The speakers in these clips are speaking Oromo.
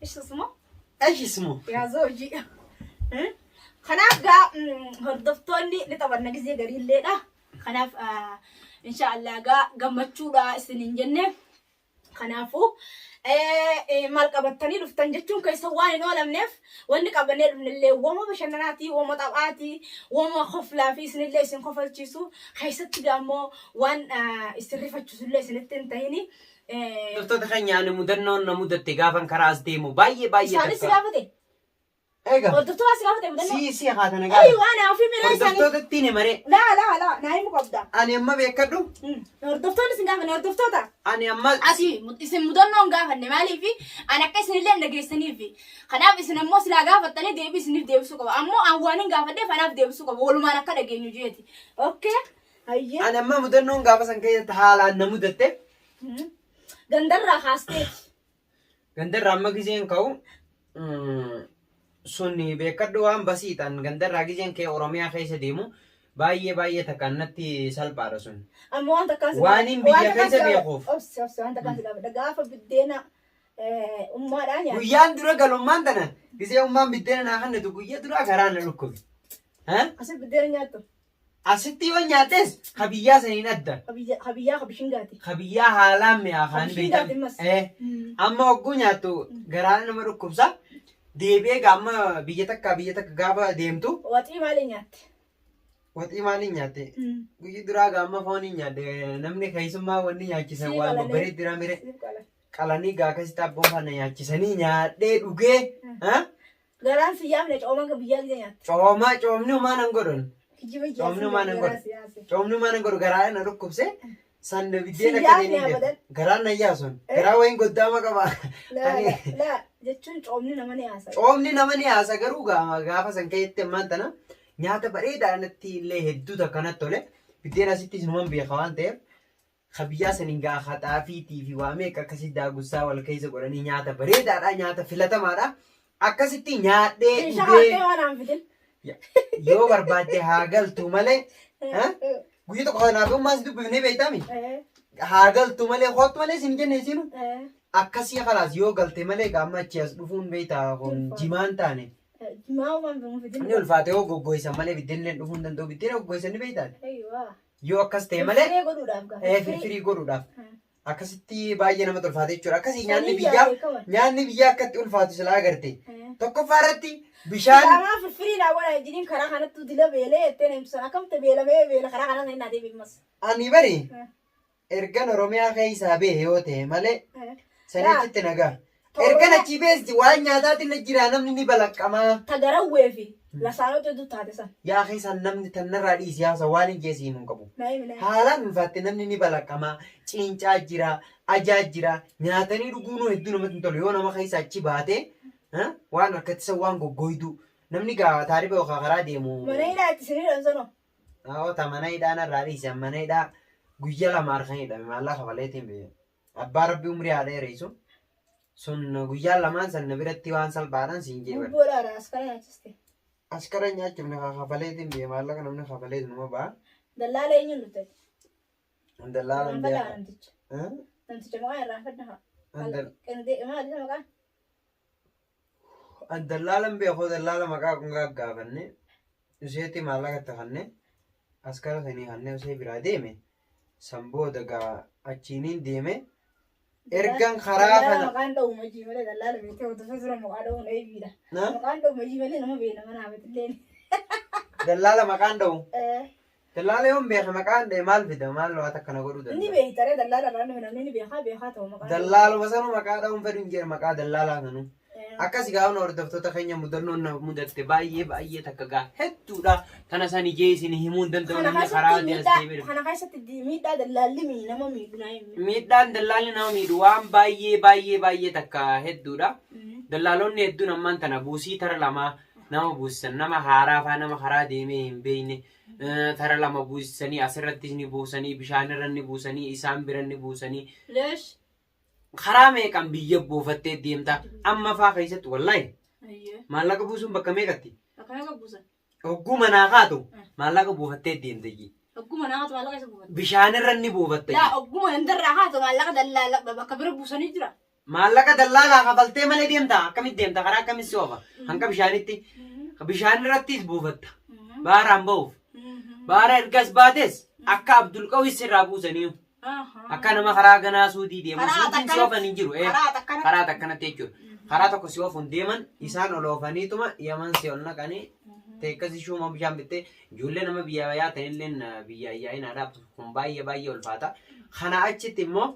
Ishismoo? Ishismoo? Yaa zoojii. Kanaaf gaa hordoftoonni ni taphanna gizee garii illeedha. Kanaaf inshaallah gaa gammachuudha isin hin jenne. Kanaafuu maal qabattanii dhuftan jechuun keessa waan hin oolamneef wanni qabannee dhufnellee wama bashannanaatii, wama taphaatii, wama koflaa fi isinillee isin kofalchiisu keessatti gaammoo waan isin rifachiisullee isinitti hin tahini. Hordoftoota keenya ani mudannoon na mudatte gaafan karaa as deemu baay'ee baay'ee Isaanis si takka. gaafate. Egaa Hordoftoota si gaafate mudannoo. si si haata na Eeyi gaafata. waan haafii miraa isaanii. Hordoftootatti hin himaree. Laa laa laa naa himuu qabda. Ani amma beekadhu Mm. Hordoftoonni si gaafate hordoftoota. ani amma Asii mu- isin mudannoo hin gaafanne maaliif an akka isinillee hin dhageessaniif kanaaf isin ammoo silaa gaafattanii deebii isiniif deebisuu qaba ammoo an waan hin gaafadheef anaaf deebisuu qaba walumaan akka dhageenyu jeeti. Okay. Hayyee. Ani ammaa mudannoon gaafa san keessatti haalaan na mudatte. Mhm. Gandarraa kaasteeti. Gandarraa amma gizeen ka'u mm, sun beekadhu waan basiidhaan gandarraa gizeen kee Oromiyaa keessa deemu baay'ee baay'ee takkaan natti salphaadha sun. Amma waan takkaan si Waan hin biyya keessa beekuuf. Obsi obsi waan takkaan si gaafadha. Gaafa biddeena eh, ummaadhaa nyaata. Guyyaan dura galummaan tana gizee ummaan biddeena naa kannatu guyyaa duraa garaa na dhukkubi. Ha? Asi biddeena nyaattu. Asitti yoo nyaates ka biyyaa saniin adda. Ka biyya- ka biyyaa ka bishingaati. Ka biyyaa haalaan mi'aa Ka kaan bishingaati beektan. ammas. Eh, Mm. Amma hogguu nyaattu garaa nama dhukkubsa. Deebi'ee gaa amma biyya takka biyya takka gaafa deemtu Waxii maaliin nyaatte? waxii maaliin nyaatte? Mm. Guyyi duraa gaa amma fooniin nyaadde namni keessummaa wanni nyaachisan Sii waan qalanee. babbaree dira mire. Siif qala. qalanii gaa akkasitti abboofaana nyaachisanii nyaadhee dhugee ha? Garaan si yaafne cooman kan biyyaa gida nyaatte. Cooma coomni homaa nan godhun. Kijiba ijaa Coomni homaa nan garaa godhu. si yaase. Coomni homaa nan godhu garaa na dhukkubse. San biddeen Si akka yaafne ta'e abadan. Garaan na yaasun. Eh? Garaa wayiin goddaama qaba. Laa Ani laa laa jechuun coomni nama ni haasa. coomni nama ni haasa garuu gaama gaafa san ka'etti ammaan tana nyaata bareedaa natti illee hedduu takka natti tole. Biddeen asittis numan beeka waan ta'eef Ka biyyaa saniin gaa ka xaafiitii fi waa meeqa akkasii daagussaa wal keessa godhanii nyaata bareedaadha nyaata filatamaadha. Akkasitti nyaadhee Isha dhugee haaftee waan aan fidin. yoo barbaadde haa galtu malee ha? guyya tokko kanaaf yoo maas dubbifnee beektaami haa galtu malee hoottu malee isin jenne isiinu akkasii kalaas yoo galte malee gaamma achi as dhufuun beektaa kun Ulfaata. jimaan taane Maa waan fidin. inni ulfaate yoo goggoysan malee biddeenillee dhufuu hin danda'u biddeen goggoysan ni beektaati. Eeyyuu. Yoo akkas ta'e malee Firee godhuudhaaf gaafata. eh, Firii. firfirii godhuudhaaf Hmm. akkasitti baay'ee namatti ulfaata jechuudha. Akkasii nyaanni Sanii biyyaa yaadee kawan. nyaanni biyyaa akkatti ulfaatu silaa agarte. Eh. Tokkoffaa irratti bishaan Silaamaa firfirii naa godhaa jedhiin karaa kanattuu dila beelee jettee na himtu sana akkamta beela mee beela karaa kanaa sana hin naatee beekmas. ani bari Eh. ergan Oromiyaa keessaa bahe yoo ta'e malee Eh. sanii Laa. achitti nagaa. Ergan achii beesdi waan nyaataatillee jiraa namni ni balaqqamaa. Ta garawwee fi lasaanota hedduu taate san. Yaa akhi san namni tannarraa dhiisi yaa san waan hin jee si himu hin qabu. Na himi na himi. Haalaan ulfaatte namni ni balaqqamaa, ciincaa jira, ajaa jira, nyaatanii dhuguunuu hedduu namatti hin tolu yoo nama keessa achi baate eh, waan harkatti san waan goggooyduu namni gaa taariba yookaan karaa deemu Mana hidhaa itti isin hidhan sanoo. Awota mana hidhaa narraa dhiisi an mana hidhaa guyya lama harkan hidhame maallaqa kafaleetiin bee. Abbaa rabbi umrii haa dheereysu. Sun guyyaa lamaan san na biratti waan salphaadhaan siin jee bar. Gubboo dhaara askara nyaachiste. Askara nyaachuuf na kafaleetiin biyya maallaqa namni kafaleetu numa ba'a. Dallaala eenyuun dhuftati? Dallaala hin Irraanfadhaa beeku. namticha. Eh? Namticha maqaa irraanfadha haa. Dal- Qindee maali isa maqaan? An dallaalan beekoo dallaala maqaa kun gaggaafanne useetti maallaqa itti kanne askara sanii kanne usee biraa deeme san booda gaa achiiniin deeme ergan karaa Dallaala kana maqaan dha'u majii malee dallaala beektee hordofee tura maqaa dha'uun eebiidha. Na? Maqaan dha'u majii malee nama beena mana haamatillee. dallaala maqaan dha'u Dallaala yoon beeke maqaan dha'e maal fida maal waata akka na godhuu Ni danda'a? beekta ree dallaala irraa dhufe namni ni beekaa beekaa ta'u maqaa Dallaaluma sanuu maqaa dha'uun fedhu hin jedhe maqaa dallaalaa sanuu. ta'u. Akkasi gaafna hordoftoota keenya mudannoon na mudatte baay'ee baay'ee takka gaa hedduudha. Tana san ijee isin himuu hin danda'u Kana namni karaa keessatti adii as miidhaa deemee dhufe. kana keessatti di- miidhaa dallaalli mi- nama miidhu naa himi. Miidhaan dallaalli nama miidhu waan baay'ee baay'ee baay'ee takka hedduudha. Mm. Dallaalonni hedduun ammaan tana buusii tara lamaa nama buusisan nama haaraa faa nama karaa deemee hin beekne tara lama buusisanii asirrattis ni buusanii bishaanirra ni buusanii isaan bira ni buusanii Leesh. karaa meeqan biyya buufattee deemta amma faa keessatti wallaahi Ayyee. maallaqa buusuun bakka meeqatti Akkana akka buusan. hogguu manaa kaatu Mm. maallaqa buufattee deemta iyyii Ogguma naatu maallaqa isa buufata. bishaanirra ni buufatta Yaa iyyii ogguma indarraa haatu maallaqa dallaala bakka bira buusanii jira. Maallaqa dallaalaa kafaltee malee deemta akkamitti deemta karaa akkamitti si oofa hanqa bishaanitti bishaan irrattis buufatta baaraan ba'uuf baara ergas baates akka abdulqawis sirraa buusaniiyu akka nama karaa ganaa suudii deemu Karaa suudiin si takkanatti- oofan hin jiru ee karaa takkanatti- karaa takkanatti jechuudha karaa tokko si oofuun deeman isaan ol oofaniituma yaman si ol naqanii teekkasi shuuma bishaan bittee ijoollee nama biyyaa yaa ta'elleen biyyaa yaa'inaadhaaf kun baay'ee baay'ee ulfaata kana achitti immoo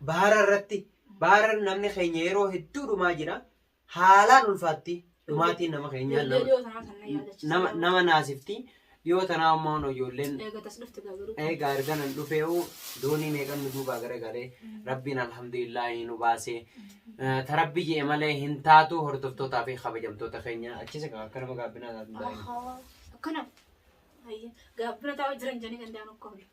baara irratti baara namni keenya yeroo hedduu dhumaa jira. Haalaan ulfaatti dhumaatiin nama keenyaa Ijoollee nama- yoo tanaa kan na yaadachiisa. nama nama naasifti. Yoo tanaa ammoo hoo ijoolleen Eega tas dhufte gagaruu. eegaa erganan dhufee hoo doonii meeqan nu duubaa garagalee rabbiin alhamdulillaahi nu baasee Eh, ta rabbi je'e malee hin taatu hordoftootaa fi kabajamtoota keenya achis egaa akka nama gaabbinaa taatu hin taa'in. Ahaa. Akkana. Ayya. Gaabbina taa'u jiran jedhanii danda'an akka hunda.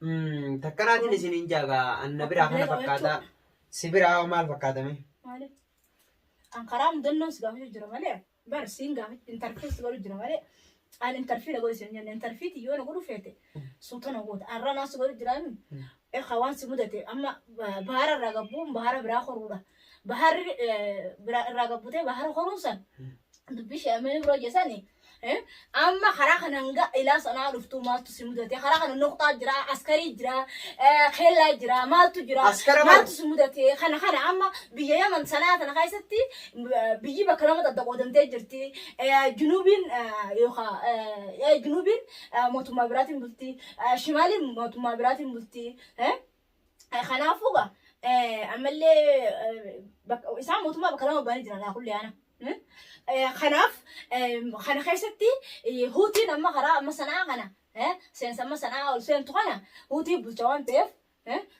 Mm, takka naatiin isiniin jaagaa anna biraa kana fakkaataa si biraa hoo maal fakkaatame? Maali? An karaa mudannoo si gaafachuu jira malee bar siin gaafachuu intarfii si godhu jira malee an intarfii na godhu siin jenne intarfiiti yoo na godhu feete suuta na goota arra naa si godhu jira mi ekaa waan si mudate amma ba- bahara irraa gabbuun bahara biraa koruudha baharri eh, biraa irraa gabbutee bahara koruun san dubbii sheemee biroo jesani Eh, amma karaa kana hanga ilaa sanaa dhuftu maaltu si mudate karaa kana noqxaa jira askarii jira eh, keellaa jira maaltu jira Askara bar- maaltu si mudate kana kana amma biyya yaman sanaa tana keessatti eh, biyyi bakka lama adda qoodamtee jirti Eh, junuubiin eh, yookaan eh, eh, junuubiin eh, mootummaa biraatiin bulti Eh, shimaaliin mootummaa biraatiin bulti Eh, Kanaafuu gaa ammallee isaan mootummaa bakka lama ba'anii jiran laakullee ana. Kanaaf kana keessatti huutiin amma karaa amma sanaa kana seensa amma sanaa ol seentu kana huutii bulcha waan ta'eef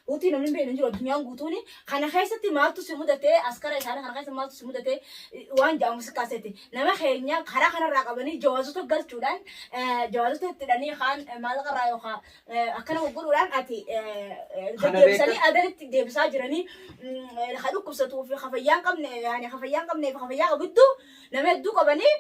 huutii namni beeknu hin jiru addunyaan guutuun kana keessatti maaltu si mudate askara isaanii kana keessa maaltu si mudate waan jedhamu si kaasete nama keenya karaa kanarraa qabanii jawaazota galchuudhaan jawaazota itti hidhanii kaan maallaqa irraa yookaan Eh, akkana gurguruudhaan ati eh, eh, Kana deddeebisanii beekta- adanitti deebisaa jiranii mm, eh, ha dhukkubsatuu fi ha fayyaa hin qabne yaani ha fayyaa hin qabnee fi ha fayyaa qabu hedduu nama hedduu qabanii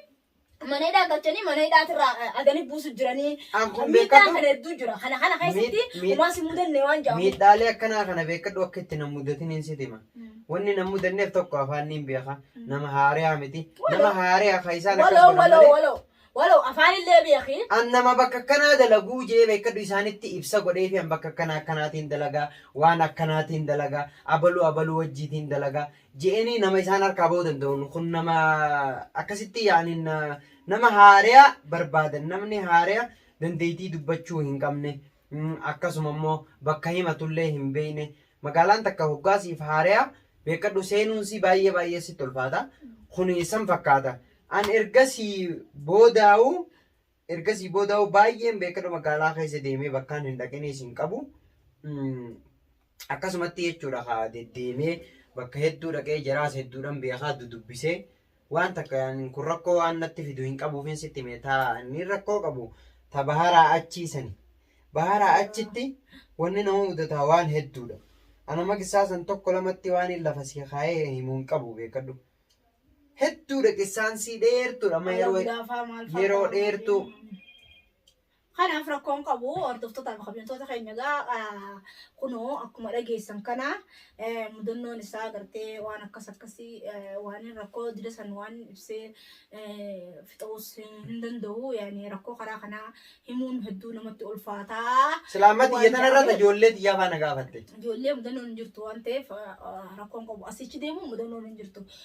mana hidhaa galchanii mana hidhaatirraa eh, adanii buusu jiranii An kun miidhaan beekatu- kana hedduu jira kana kana keessatti Miid- miid- umaas hin mudanne waan jedhamu Miidhaalee akkanaa kana beekadhu akka itti nan mudatin hin sitima. Wanni nan mudanneef tokko afaan niin beeka. Nama haariyaa miti. Nama haariyaa ka isaan akkas waloo godhan waloo malee. waloo Walow afaan illee beeki. An nama bakka akkanaa dalaguu je'ee beekkadhu isaanitti ibsa godheefii an bakka akkana akkanaatiin dalagaa, waan akkanaatiin dalagaa, abalu abaluu wajjiitiin dalagaa je'eenii nama isaan harkaa bahuu danda'uun kun nama akkasitti ya'anii nama haareya barbaadan namni haareya dandeeytii dubbachuu hin qabne akkasuma immoo bakka himatullee hin beekne magaalaan takka hoggaa siif haaraya beekadhu seenuunsii baay'ee baay'ee sitti ulfaata kun san fakkaata an ergasii boodaa'u ergasii boodaa'u baay'een beekadhu magaalaa keessa deemee bakkaan hin dhaqiniis hin qabu Mm, Akkasumatti jechuudha ka deddeemee bakka hedduu dhaqee jaraas hedduudhan beekaa dudubbisee waan takka yaanin kun rakkoo waan natti fidu hin qabuufin sitti mee taa inni rakkoo qabu ta baharaa achii sani baharaa achitti wanni nama mudataa waan hedduudha ana maqissaa san tokko lamatti waan hin lafa sii kaayee himu hin qabu beekadhu hedduudha qissaansii dheertuudha amma yeroo yeroo dheertuu Kanaaf rakkoo hin qabu hordoftoota fi kabajamtoota keenya egaa kunoo akkuma dhageessan kana mudannoon isaa gartee waan akkas akkasii waan rakkoo dida san waan ibsee fixuus hin danda'u yaani rakkoo karaa kanaa himuun hedduu namatti ulfaataa. Silaammatti Waan iyyatan irratti jedhameef. ijoollee xiyyaa faana gaafatte. Ijoollee mudannoon hin jirtu waan ta'eef rakkoon qabu asichi deemu mudannoon hin jirtu.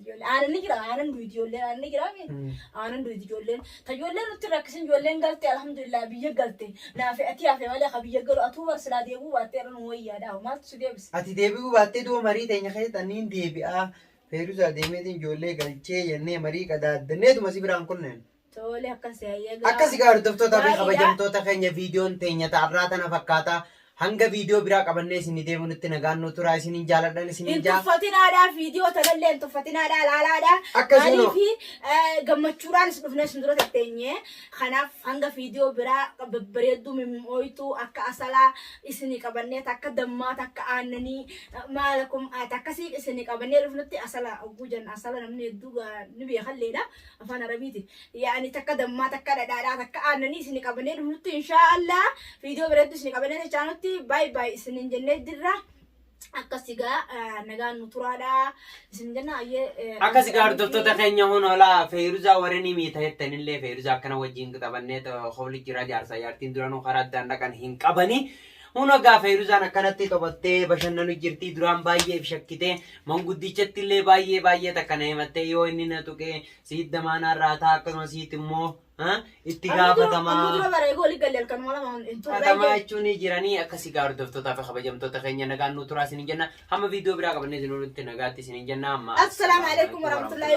Ijoollee aanan ni jira aanan duuti ijoolleen aanan ni jira aanan duuti ijoolleen ta ijoolleen nutti rakkisin ijoolleen galte alhamdulillah biyya galte naafi ati hafe malee ka biyya galu atuu bar silaa deebuu baattee irra nu wayyaa daawa maaltu si deebisa. Ati deebi'uu baattee du'a marii teenya keessatti ani hin deebi'aa Feeruzaa deemeetiin ijoollee galchee jennee marii qadaaddanneetuma si biraan kunneen. Tole akkasi hayyee gaariidha. Akkasi gaa hordoftoota fi kabajamtoota keenya viidiyoon teenya ta'arraa tana fakkaata. Hanga viidiyoo biraa qabannee isin deebinutti nagaan nu turaa isinin jaaladhan isinin Hin jaa. tuffatinaadhaa viidiyoo tanallee hin tuffatinaadhaa laalaadhaa. Akkasi kunoo. Maaliif gammachuudhaan isin dhufnee isin dura tetteenye. Kanaaf hanga viidiyoo biraa babbareedduu mimmooytuu akka asalaa isinii qabannee takka dammaa takka aannanii maala kun akkasii isinii qabannee dhufnutti asala ogguu jenna asala namni hedduu gaa ni beekalleedha. Afaan Arabiitiin. Yaani takka dammaa takka dhadhaadhaa takka aannanii isin qabannee dhufnutti inshaa Allah viidiyoo biratti isin qabannee dachaanutti baay baay isin jennee jirra. Akka sigaa eh, nagaan nu turaadha isin jenna ayyee. eh, Akka sigaa Abdulhamid hordoftoota Hiriyaa. keenya hon hoolaa feeruzaa warreen himii ta'ettan illee feeruzaa akkana wajjin taphanneet hobli jira jaarsaa jaartiin duranuu karaa addaan dhaqan hin qabani. Huno egaa Feeruzaan akkanatti taphattee bashannanu jirti. Duraan baay'ee if shakkitee manguddichatti illee baay'ee baay'ee takka na himattee yoo inni na tuqee siit damaanaa irraa ta'a akkasuma siit immoo ah, itti Amma dura gaafatamaa. bara eeguu waliin galle halkanuma lama hin turre. Hatamaa jechuun ni jiranii akka sigaa hordoftootaa fi kabajamtoota keenya nagaan nu turaa isinin jenna. Hamma viidiyoo biraa qabannee isin olitti nagaatti isinin jenna. Assalaamu alaikum warahmatullaahi